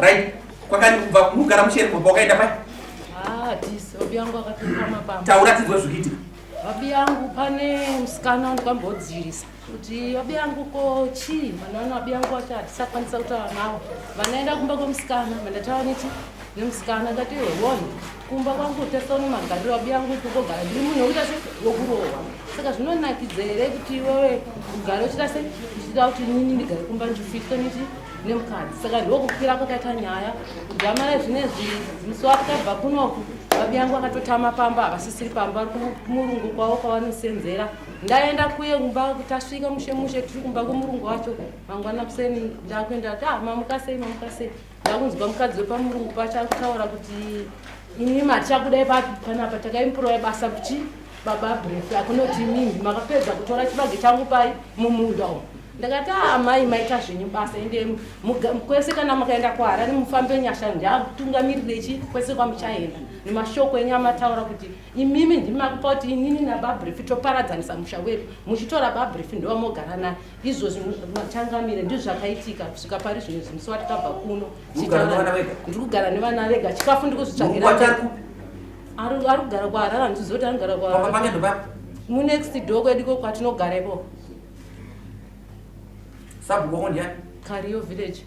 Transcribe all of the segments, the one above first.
Right? Kwakani kubva mugara musheri kumba wakaenda pai? Ah, this obi yangu akapinda mapamba. Taura tizwe zvikiitika. Obi yangu pane musikana wandikambodzirisa. Kuti obi yangu ko chii? Mwana obi yangu wacho atisakwanisa kutaura nawo. Vanaenda kumba kwemusikana, vandataura neti nemusikana ngati wewona. kumba kwangu tese uno magariro abuya angu kugogara ndiri munhu wekuita se wekurohwa saka zvinonakidza here kuti iwewe ugare uchita se uchida kuti nini ndigare kumba ndichifitwe niti nemukadzi saka ndokukwira kwakaita nyaya kudamara zvinezvi musi wakabva kunoku babi yangu akatotama pamba havasisiri pamba ari kumurungu kwavo kwavanosenzera ndaenda kuye kumba kuti asvika mushe mushe tiri kumba kwemurungu wacho mangwana kuseni ndakuenda ti ah, mamukasei mamukasei ndakunzwa mukadzi wepamurungu pacho akutaura kuti ini mati chakudai panapa takaimpurowa basa kuti baba bref akunoti mimi makapedza kutora chibage changu pai mumunda umu ndakati amai ah, maita zvenyu basa ende kwese kana makaenda kuharare mufambe nyasha ndiatungamirire chi kwese kwamuchaenda nemashoko enyu amataura kuti imimi ndimi makupa kuti inini nababrifi toparadzanisa musha wedu muchitora babrifi ndovamogara naye izvozvi matangamire ndizvo zvakaitika kusvika pari zvino izvi musi watikabva kuno ndiri kugara nevana vega chikafu ndiri kuzvitsvagira ari kugara kwaharara ndichiziva kuti anogara kwaharara munext door kwedu iko kwatinogara ipo sabhuko ndiani kariyo village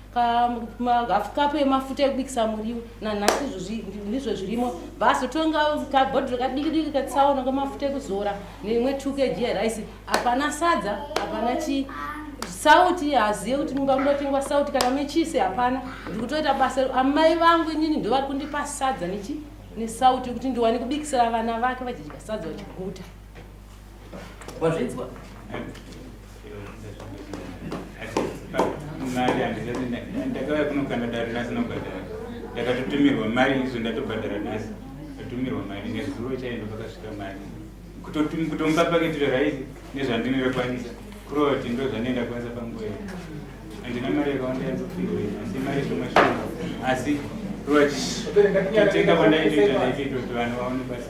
kahafu kapu yemafuta ekubikisa muriwo nanhasi izvozvi ndizvo zvirimo basi totonga kabhodhiro kadikidiki katsaona kamafuta ekuzora neimwe two kg yerice hapana sadza hapana chii sauti hazive kuti mumba munotengwa sauti kana mechisi hapana ndikutoita basa amai vangu inini ndovari kundipa sadza nechi nesauti yekuti ndiwane kubikisira vana vake vachidya sadza vachiguta Wazvinzwa? mari handisatindakauya kunokanda dare nhasi nobhadhara ndakatotumirwa mari izvo ndatobhadhara nhasi ndatumirwa mari nezuro chaindo pakasvika mari kutomupa paketiro raisi nezvandinokwanisa kurova kuti ndo zvandienda kwanisa panguva iyo handina mari yakawanda yanzopihwa asi mari zvomwe shoma asi kurova chitenga kwandaitoita ndaitoita kuti vanhu vaone basi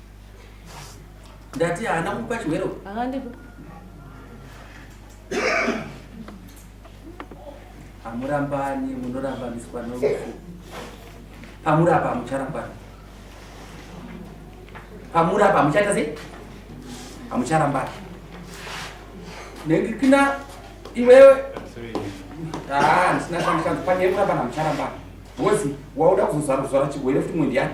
ndati haana kukupa chimwero akandipa hamurambani munorambaniswa norufu pamuri apa hamucharambani pamuri apa hamuchaita sei hamucharambani nekuti kina iwewe haa ndisina shandikanzi pane yekurambana hamucharambani wozi wauda kuzozara kuzvara chigwere futi mwendi yani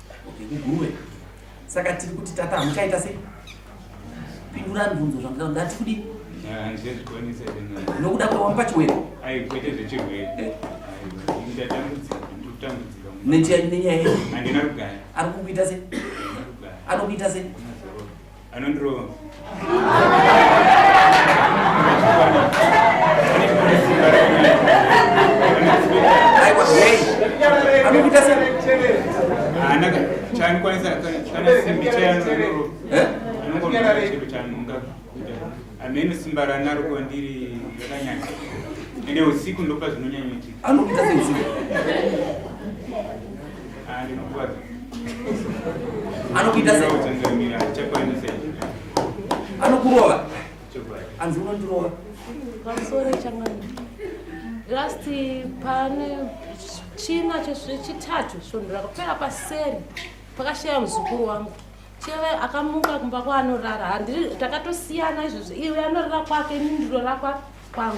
Okay, kuguruve. Saka tiri kuti tata hamuchaita sei? Pindurani bvunzo zvandira ndati kudi. Nokuda kwewamupa chiwero. Ai kwete zvechiwero. Eh. Ndatambudzika, ndatambudzika. Nenyaya yedu. Handina kugara. Ari kukuita sei? Anokuita sei? anondirova anaka chaanokwanisa kana simbi chayanondirova eh? anongochero chanonga ameno simba ranaro kwandiri rakanyanya ende usiku ndopa zvinonyanyoitika anopita seusiku anokuita sei anokurova anzi unondirova last pane china chechitatu svondo rakapera paseri pakashaya muzukuru wangu cheve akamuka kumba kwaanorara handiri takatosiyana izvozvo iwe anorara kwake ini ndirora kwangu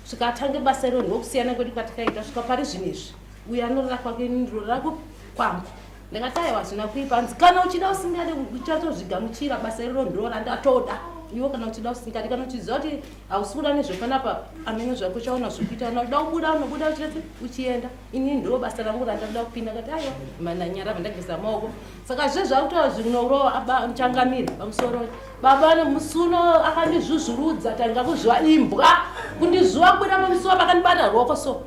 zvikatange basa iroo ndokusiyana kwedu kwatakaita svika pari zvinhu izvi uyo anorora kwake ini ndirorera kupi kwangu ndakati aiwa hazvina kuipa hanzi kana uchida usingade uchatozvigamuchira basa iroro ndiroora ndatoda iwo kana uchida usingade kana uchiziva kuti hausi kuda nezvepanapa amene zvako chaona zvekuita na uda kubuda unobuda uchirese uchienda ini ndiro basa rangu randakuda kupinda kati aiwa mananyara vandageza maoko saka zve zvakutaura zvinorowa aba changamire pamusoro baba nemusuno akandizvuzvurudza tanga kuzviwa imbwa kundizviwa kuda pamusuwa vakandibata roko so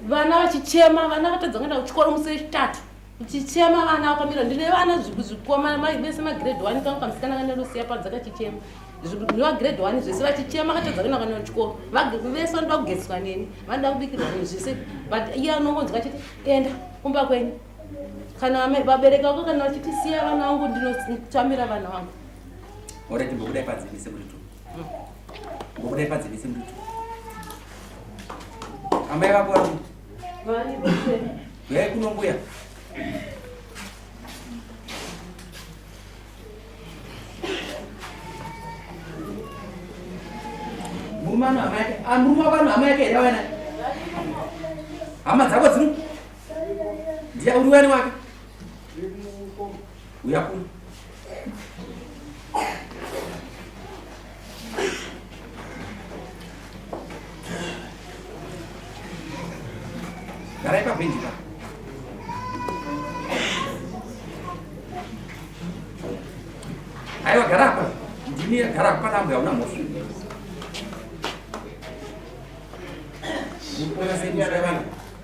vana vachichema vana vatadza kuenda kuchikoro musi wechitatu chichema vana wakamira ndine vana zvikoma mai vese magrade one kangu kamusikana kanelosiya padza kachichema zvinova grade one zvese vachichema katadza kuenda kana chikoro vese vanoda kugeziswa neni vanoda kubikirwa neni zvese but iye anongonzwa chete enda kumba kwenyu kana vabereki vako kana vachitisiya vana vangu ndinotambira vana vangu oreti mbokudai padzivise muritu mbokudai padzivise muritu amai vako vari yai kuno mbuya murumano hama yake amuruma ah, vanhu hama yake here vana hama dzako dziri ndiya uri wani wake uya kuno garai pabhenji pa aiwa gara apa ndini gara apa nambuya una mhofu Buenas noches,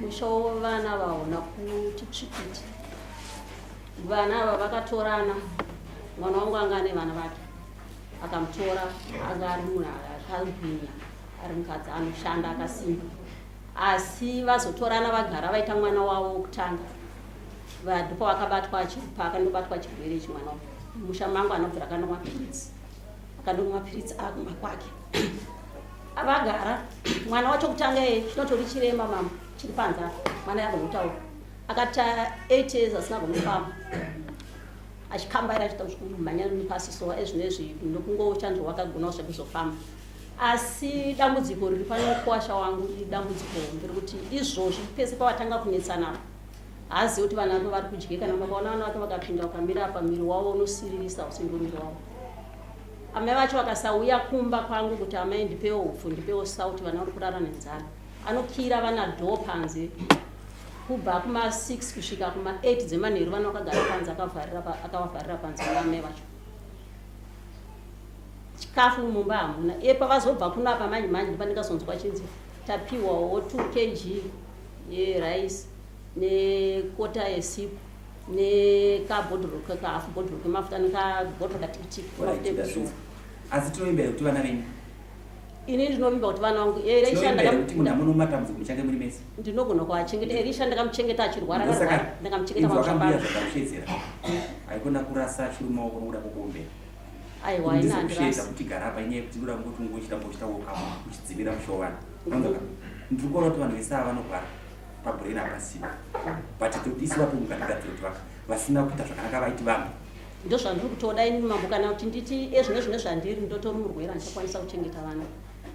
mushowo vana vaona kuti tsvikiti vana ava vakatorana mwana wangu anga ane vana vake akamutora anga ari munhu akagwinya ari mukadzi anoshanda akasimba asi vazotorana vagara vaita mwana wavo wokutanga ndipo vakabatwa pakandobatwa chirwere ichi mwana musha mangu anobvira kandomwa piritsi akandomwa mapiritsi akumba kwake avagara mwana wacho kutanga ye chinotori chirema mama chiri panze apa mwana yagonotaura akati eight years asina gonofamba achikambaira achita kumhanya nepasi so ezvino izvi nokungochanzwa wakagonawo zvekuzofamba asi dambudziko riri panokuwasha wangu idambudziko hombe rekuti izvozvi pese pavatanga kunetsana haazivi kuti vana vake vari kudye kana vakaona vana vake vakapinda ukamira apa miri wavo unosiririsa usingo miri wavo amai vacho vakasauya kumba kwangu kuti amai ndipewo upfu ndipewo sauti vana vari kurara nenzara anokira vana dho panze kubva kuma 6 kusvika kuma 8 dzemanheru vana vakagara panze akavavharira panze naamai vacho chikafu mumba hamuna epavazobva kuno apa manje manje ndipandikazonzwa chinzi tapiwawo 2 kg yerice nekota yesipo nekabhodhoro kekahafu bhodhoro kemafuta nekabhodhoro katikitiki asi tinovimbira kuti vana venyu ini ndinovimba kuti vana vangu ndinogona kuvachengeta erisha ndakamuchengeta achirwara ndakamuchengetaikona kurasa chiri maoko nokuda kwokuombera aiwa ina handirasi kuti gara apa inyaya yekuti ndoda kungotungochita mbochita woka uchidzivira mushovana Unonzwa? Ndiri kuona kuti vanhu vese ava vanogwara pabrain hapasiwo. But tiri kuti isu vapo mukatigatsira kuti vaka vasina kuita zvakanaka vaiti vanhu. Ndozvandiri kutoda ini mambo kana kuti nditi ezvino zvino zvandiri ndotori murwere andichakwanisa kuchengeta vana.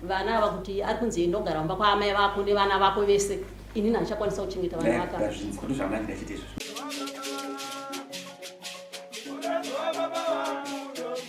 Vana ava kuti ari kunzi enda ogara kumba kwaamai vako nevana vako vese inini handichakwanisa kuchengeta vana vaka. Ndazvinzwa ndozvamai ndachiti izvozvo.